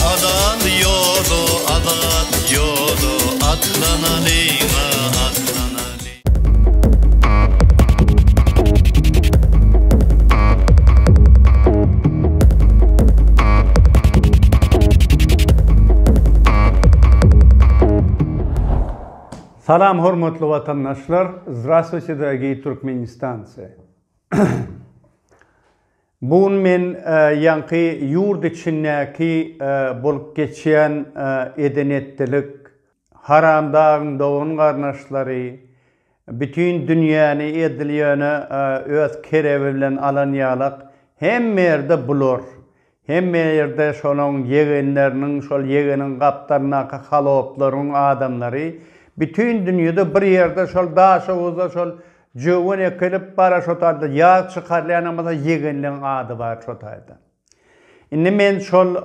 Azat ýoda, azat ýoda, atlanalyň-a, atlanalyň. Salam hormatly watandaşlar, Zdrastwuçe, dragii Turkmenistanci! Bu gün men ýaňky ýurt içindäki bolup geçýän eden-etdilik, Haramdagyň dogan-garnaşlary bütin dünýäni edil ýöne öz kerebi bilen alan ýalak, hemme ýerde bular, Hemme ýerde şonuň ýegenleriniň, şol ýegeniň gapdalyndaky halotlaryň adamlary, bütin dünýede bir ýerde şol Daşoguzda şol jöwen ekilip bara şo taýda ýag çykarylýanam bolsa ýegenleň ady bar şo taýda. Indi men şol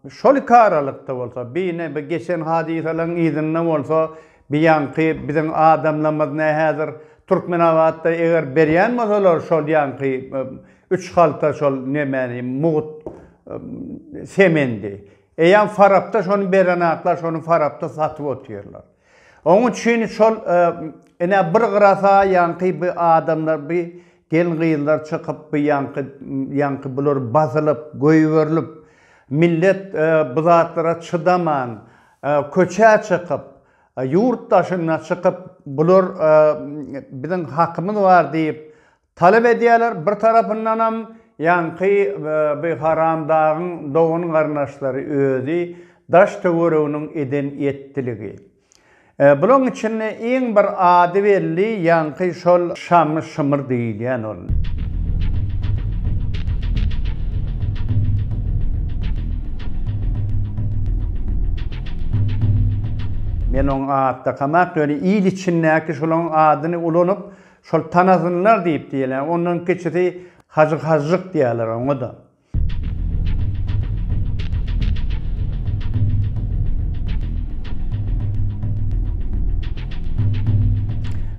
şol iki aralykda bolsa, bi ine bi geçen hadysalaryň yzynda bolsa Biýanky biziň adamlarymyz ne häzir Türkmenabatda eger berýän bolsalar şol ýanky üç halta şol nemäni mugt semendi eýýam farapda şony berenaklar şony farapda satyp otyrlar. Oň üçin şol ine bir gyrasa ýanky bi adamlar bi gelin gyzlar çykyp bi ýanky ýanky bular basylyp göýberilip millet bu zatlara çydaman Köçä çykyp, ýurt daşyna çykyp, bular biziň hakymyz bar diýip talap edýärler. Bir tarapyndanam ýaňky bu haramdagyň dogan-garyndaşlary özi daş-töwereginiň eden ýetdiligi. Bulaň içinde iň bir ady belli ýaňky şol Şamy-Şymyr diýilýän ol. Men oň atdakamak ýöne il içindäki şolaň adyny ulanyp, şol tanasynlar diýip diýýäler. Ondan kiçisi Hajy Hažžyk diýýäler oňa-da.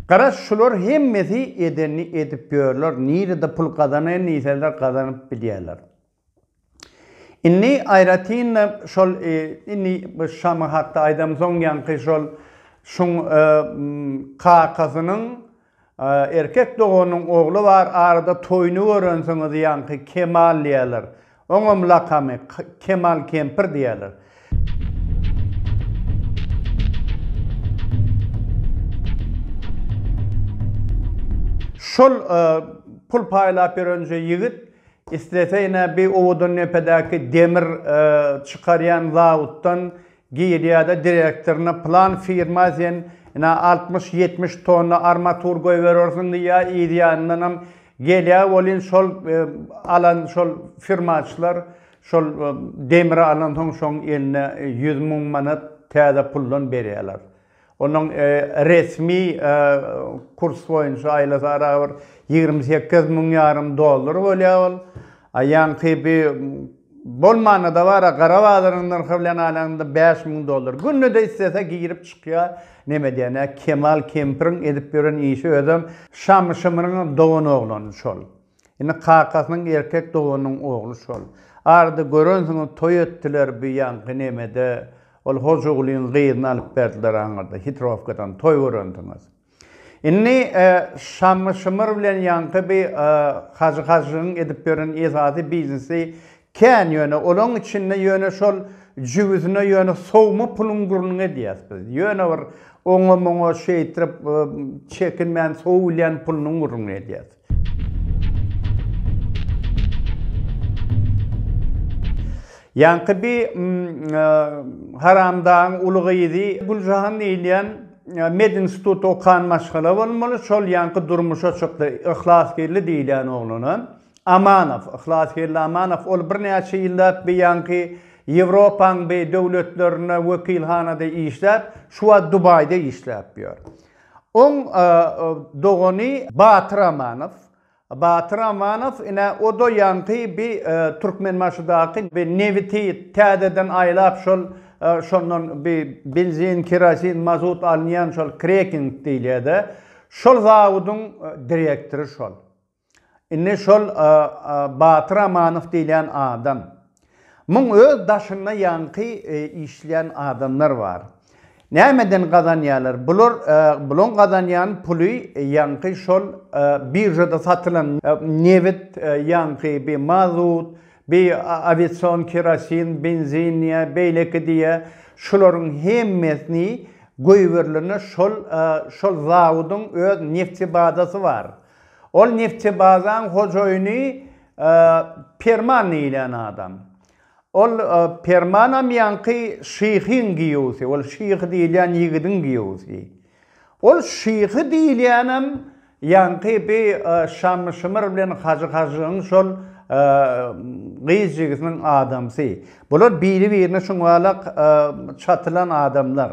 Gara şular hemmesi edenini edip ýörler, nirede pul gazanaýyn diýseler gazanyp bilýärler. Indi aýratyn-da şol indi bu Şama hakda aýdamsoň ýaňky şol şuň kakasynyň Erkek doganyň ogly bar arada toýuny görensiňiz ýaňky Kemal diýerler. Oňam lakamy Kemal kempir diýerler. Şol pul paýlap ýörenje ýigit islese ine bi owadandepedäki demir çykarýan zawutdan Giriýada direktoryna plan firma sen ina altmyş ýetmiş tonna armatur goýberersiň diýýä yz ýanyndanam gelýä welin şol alan şol firmaçylar şol demri alansoň şoň eline ýüz müň manat täze puldan berýäler. Onuň resmi kurs boýunça aýlasy arabir ýigrimi sekiz müň ýarym dollar bolýar ol. A ýaňky bi bolmanda-da bar-a, gara bazaryň nyrhy bilen alanda bäş müň dollar. Günde-de islese girip çykýar. Neme diýen-ä, Kemal kempiriň edip ýören işi özem Şamyşymynyň dogan oglany şol. Indi kakasynyň erkek doganynyň ogly şol. Arada görensiňiz toý etdiler bu ýaňky nemede, ol Hojagulyň gyzyny alyp berdiler aňyrda, Hitrowkadan toý görensiňiz. Indi Şammy Şymyr bilen ýaňky bi Hajy Hajygyň edip ýören esasy biznesi kän ýöne olaň içinde ýöne şol jübüsine ýöne sowma puluň gürrüňi edýäs biz. Ýöne bir oňa-muňa şeýtrip çekinmän sowulýan pulunyň gürrüňi edýäs. Ýaňky bi haramdagyň uly gyzy Güljahan diýilýän medinstitutda okan maşgala bolmaly, şol ýaňky durmuşa çykdy, Yhlasgeldi diýilýän oglana. Amanow, Yhlasgeldi Amanow, ol birnäçe ýyllap bi ýaňky Ýewropaň bi döwletlerinde wekilhanada işläp, şu wagt Dubaýda işläp ýör. Oň dogany Batyr Amanow. Batyr Amanow ine oda ýaňky bi Türkmenbaşydaky bi nebiti täzeden aýlap şol şondan bi benzin, kerosin, mazut alynýan şol kreking diýilýä-dä. Şol zawudyň direktory şol. Indi şol Batyr Amanow diýilýän adam. Muň öz daşynda ýaňky işleýän adamlar bar. Nämeden gazanýarlar? Bular bulaň gazanýan puly ýaňky şol biržada satylan nebit, ýaňky bi mazut, bi awiasion kerosin, benzin diýä, beýleki diýä, şularyň hemmesini goýberilende şol şol zawudyň öz neftibazasy bar. Ol Neftçebazaň hojaýyny Perman diýlen adam. Ol Permanam ýaňky şyhyň giýewsi, ol şyhy diýilýän ýigidiň giýewsi. Ol şyhy diýilýänem ýaňky bi Şamyşymyr bilen Hajy Hajygyň şol gyz jigisiniň adamsy. Bular biri-birine şuňalak çatylan adamlar.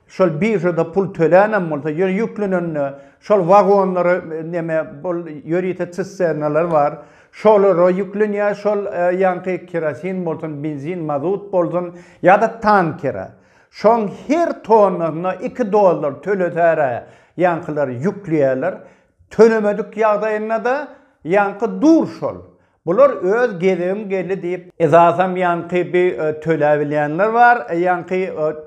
Şol biržada pul tölänem bolsa, ýöne ýüklenende şol wagonlara neme bol ýörite çisternalar bar. Şolara ýüklenýär, şol ýaňky kerosin bolsun, benzin, mazut bolsun ýa-da tankere. Şoň her tonnasyna iki dollar tölesära ýaňkylar ýükleýärler. Tölemedik ýagdaýynda-da ýaňky dur şol. Bular öz gezegim geldi diýip, esasam ýaňky bi töläbilýänler bar, ýaňky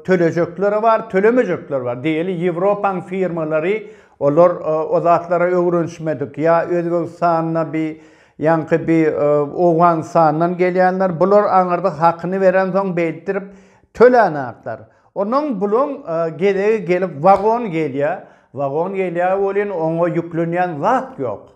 tölejekleri bar, tölemejekler bar. Diýeli Ýewropaň firmalary olar o zatlara öwrenişmedik. Ýa Özbegistanda bi ýaňky bi Owganystandan gelýänler, bular aňyrda hakyny berensoň beýddirip tölänaklar. Onuň buluň gezegi gelip wagon gelýä, wagon gelýä welin oňa ýüklenýän zat ýok.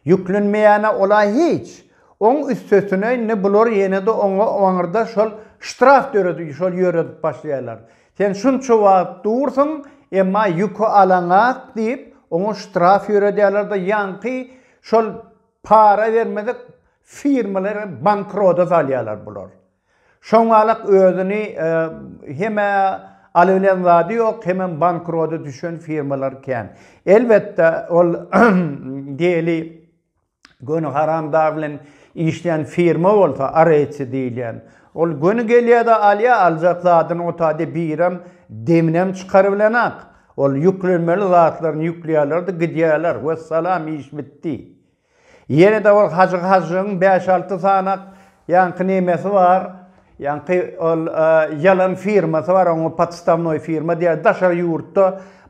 Ýüklenmeýäne ola hiç. Oň üstesine indi bular ýenede oňa oňarda şol ştraf döredip şol ýöredip başlaýarlar. Sen şunça wagt dursuň, emma ýüki alaňak diýip oňa ştraf ýöredýärlerde ýaňky şol para bermedik firmalary bankrota salýarlar bular. Şoňalak özüni hem-ä aly bilen zady ýok, hemem bankrota düşen firmalar kän. Elbetde, ol Deli göni haramdag bilen işleýän firma bolsa, Areci diýilýän, ol göni gelýär-de alýar, aljak zadyny otady birem deminem çykarybilenok. Ol ýüklenmeli zatlaryny ýükleýärler-de gidýärler, wessalam iş bitdi. Ýene-de ol Hajy Hajyň bäş-alty sany ýaňky nemesi bar. Ýaňky ol ýalan firmasy bar, oňa podstavnoý firma diýýär. Daşary ýurtda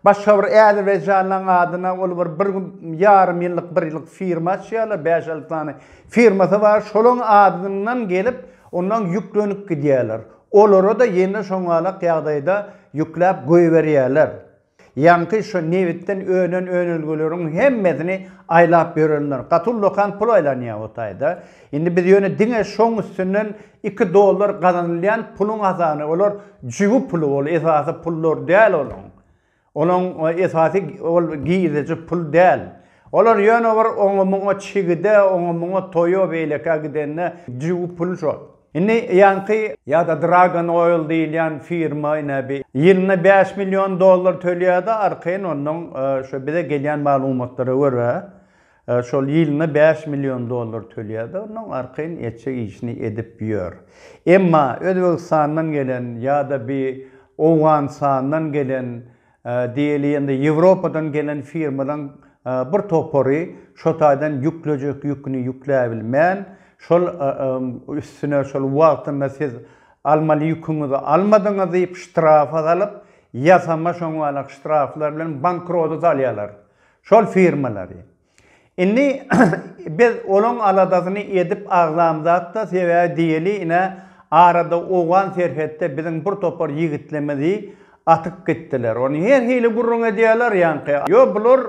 başga bir äzerbaýjanlyň adyna ol bir bir ýarym ýyllyk, bir ýyllyk firma açýarlar, bäş-alty sany firmasy bar. Şolaň adyndan gelip, ondan ýüklenip gidýärler. Olara-da ýene şoňalak ýagdaýda ýükläp goýberýärler. Ýaňky şu nebitden önen önelgeleriň hemmesini aýlap ýörenler gaty ullakan pul aýlanýar o taýda. Indi biz ýöne diňe şoň üstünden iki dollar gazanylýan puluň hasany olar jübi puly ol esasy pullary däl olaň. Olaň esasy ol girdeji pul däl. Olar ýöne bir oňa muňa çigide oňa muňa toýa beýlekä gidende jübi pul şol. Indi ýaňky ýa-da Dragon Oil diýilýän firma ine bir ýylyna bäş million dollar tölýärdi, arkaýyn onnoň şu bize gelýän maglumatlara görä şol ýylyna bäş million dollar tölýärdi, onnoň arkaýyn etjek işini edip ýör. Emma Özbegistandan gelen ýa-da bir Owganysandan gelen Diýeli-ýende Ýewropadan gelen firmalaryň bir topary şo taýdan ýüklejek ýüküni ýükläbilmän, şol üstüne şol wagtynda siz almaly ýüküňizi almadyňyz diýip ştrafa salyp, ýasama şoňalak ştraflar bilen bankrota salýarlar şol firmalary. Indi biz olaň aladasyny edip agzamzat-da, sebäbi diýeli ine, arada owgan serhetde biziň bir topar ýigitlimizi atyp gitdiler. Ony her hili gürrüň edýärler ýaňky. Ýo, bular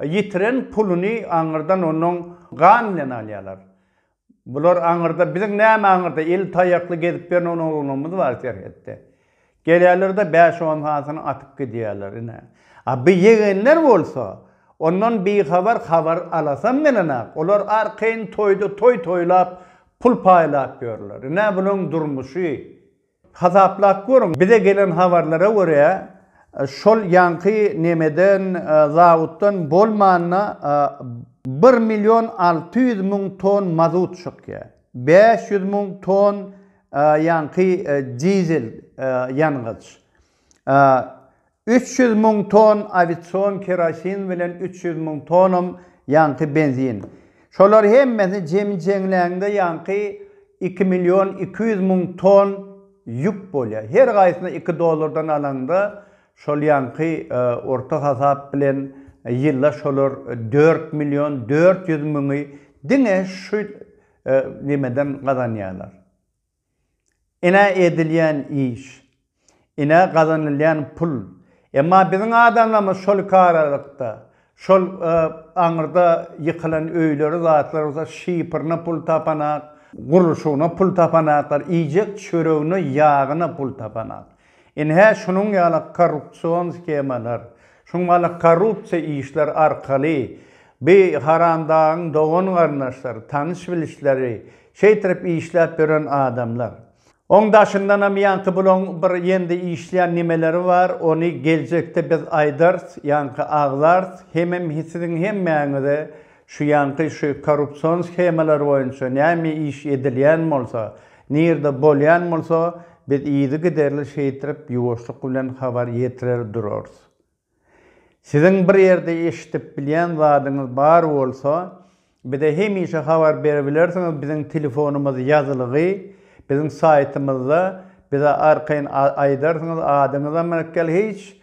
ýitiren puluny aňyrdan onuň gan bilen alýarlar. Bular aňyrda, biziň näme aňyrda, eli taýakly gezip ýören on oglanymyz bar serhetde. Gelýärler-de bäş-on sanysyny atyp gidýärler, ine. A bu ýegenler bolsa, ondan bihabar, habar alasam gelenok. Olar arkaýyn toýda toý toýlap, pul paýlap ýörler. Ine, bularyň durmuşy. Hasaplap görüň, bize gelen habarlara görä, şol ýaňky nemeden, zawoddan bolmanda bir million alty ýüz müň ton mazut çykýar, bäş ýüz müň ton ýaňky dizel ýangyç. Üç ýüz müň ton awision kerosin bilen üç ýüz müň tonam ýaňky benzin. Şolar hemmesi jemi jeňlände ýaňky iki million iki ýüz müň ton ýük bolýar. Her gaýsyna iki dollardan alaňda şol ýaňky orta hasap bilen ýyla şolar dört million dört ýüz müňi diňe şu nimeden gazanýarlar. Ine edilýän iş. Ine gazanylýan pul. Emma biziň adamlarymyz şol karalykda, şol aňyrda ýykylan öýleri, zatlary bolsa şifrine pul tapanak, gurluşygyna pul tapanaklar, iýjek çöregine, ýagyna pul tapanak. Ine, şunuň ýaly korrupsion skemalar, şunuň ýaly korrupsiýa işler arkaly bi haramdagyň dogan-garyndaşlary, tanyş-bilişleri, şeýtirip işläp ýören adamlar. Oň daşyndanam ýaňky bulaň bir ýende işleýän nimeleri bar, ony geljekde biz aýdarys, ýaňky agzars, hemem siziň hemmäňize Şu ýaňky şu korrupsion shemalar boýunça näme iş edilýän bolsa, nirde bolýan bolsa, biz yzy giderli şeýtrip ýuwaşlyk bilen habar ýetirer durarys. Siziň bir ýerde eşidip bilýän zadyňyz bar bolsa, bize hemişe habar berebilersiňiz biziň telefonymyz ýazylygy biziň saýtymyzda bize arkaýyn aýdarsyňyz adyňyzam rkl hiç